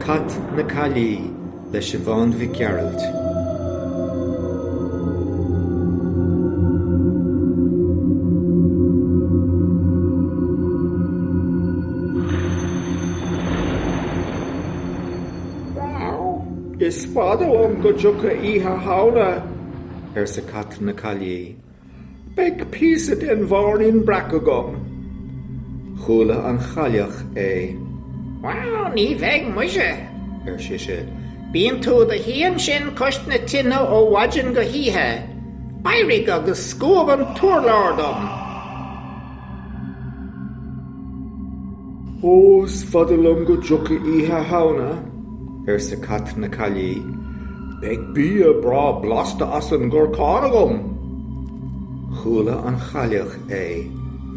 Cat na Caillí le Siobhán Mhic Gearailt. Is fada liom go dtiocfaidh Oíche Shamhna! arsa Cat na Caillí. Beidh píosa den bhairín breac agam. Chuala an chailleach é. Bhail ní bheidh muise, ar sise, bíonn tú i do shuí ansin cois na tine ó mhaidin go hoíche. Éirigh agus scuab an t-urlár dom. Ó, is fada liom go dtiocfaidh Oíche Shamhna, arsa Cat na Caillí, beidh bia breá blasta as an gcorcán agam. Chuala an chailleach é.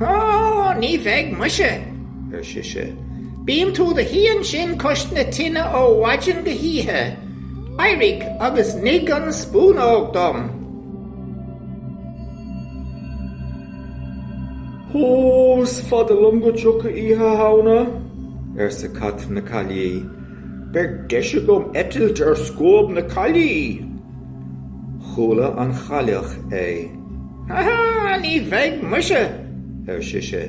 Ó, ní bheidh muise, ar sise. Bíonn tú i do shuí ansin cois na tine ó mhaidin go hoíche. Éirigh agus nigh an spúnóg dom. Ó, is fada liom go dtiocfaidh Oíche Shamhna, arsa Cat na Caillí. Beidh deis agam eitilt ar scuab na caillí! Chuala an Chailleach é. Ha ha, ní bheidh muise! ar sise.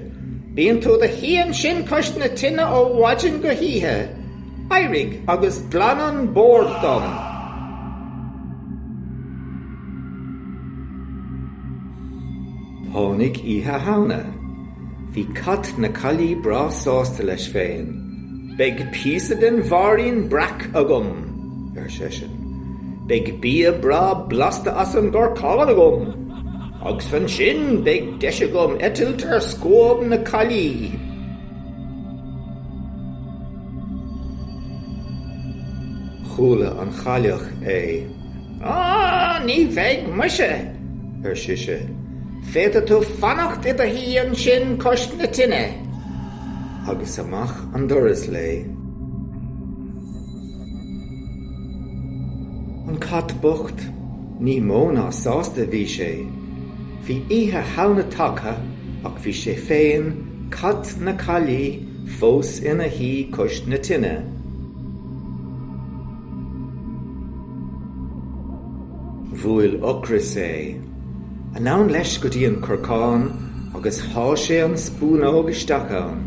Bíonn tú do shuí ansin cois na tine ó mhaidin go hoíche. Éirigh agus glan an bord dom! Tháinig Oíche Shamhna. Bhí cat na caillí breá sásta leis féin. Beidh píosa den bhairín breac agam! ar seisean. Beidh bia breá blasta as an gcorcán agam! Agus ansin beidh deis agam eitilt ar scuab na caillí! Chuala an chailleach é. Á, ní bheidh muise! ar sise. Féadfaidh tú fanacht i do shuí ansin cois na tine. Agus amach an doras léi. An cat bocht, ní mó ná sásta a bhí sé. Bhí Oíche Shamhna tagtha ach bhí sé féin, cat na caillí, fós ina shuí cois na tine. Bhuail ocras é. Anonn leis go dtí an corcán agus shá sé an spúnóg isteach ann.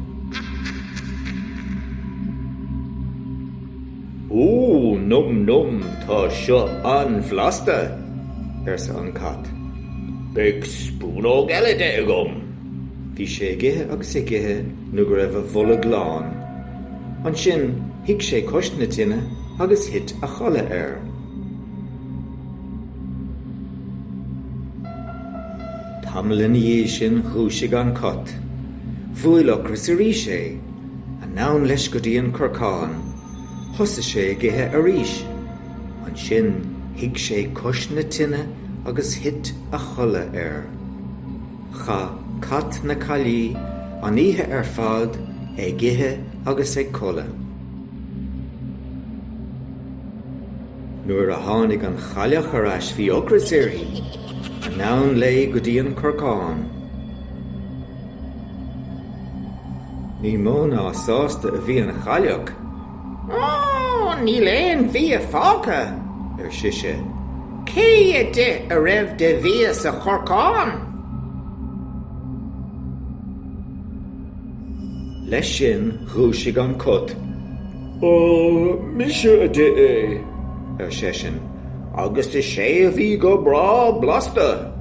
Ó, nom nom, tá seo an-bhlasta! arsa an cat. Beidh spúnóg eile de agam! Bhí sé ag ithe agus ag ithe nó go raibh a bholg lán. Ansin shuigh sé cois na tine agus thit a chodladh air. Tamall ina dhiaidh sin dhúisigh an cat. Bhuail ocras arís é. Anonn leis go dtí an corcán. Thosaigh sé ag ithe arís. Ansin shuigh sé cois na tine agus thit a chodladh air. Chaith Cat na Caillí an oíche ar fad ag ithe agus ag codladh. Nuair a tháinig an Chailleach ar ais bhí ocras uirthi. Anonn léi go dtí an corcán. Ní mó ná sásta a bhí an Chailleach Ó, níl aon bhia fágtha, ar sise. Cé a d'ith a raibh de bhia sa chorcán? Leis sin dhúisigh an cat. Ó, mise a d'ith é, ar seisean, agus is é a bhí go breá blasta!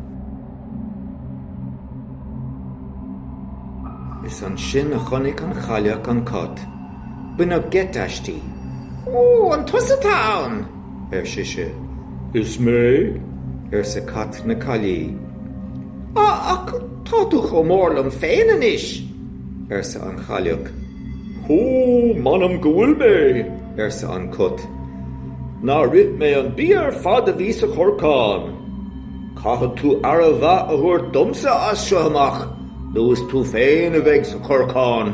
Is ansin a chonaic an chailleach an cat. Baineadh geit aisti. Ó, an tusa atá ann? ar sise. Is mé, arsa Cat na Caillí. Á, ach tá tú chomh mór liom féin anois, arsa an Chailleach. Ó, m'anam go bhfuil mé, arsa an Cat. Nár ith mé an bia ar fad a bhí sa chorcán! Caithfidh tú aire mhaith a thabhairt domsa as seo amach nó is tú féin a bheidh sa chorcán.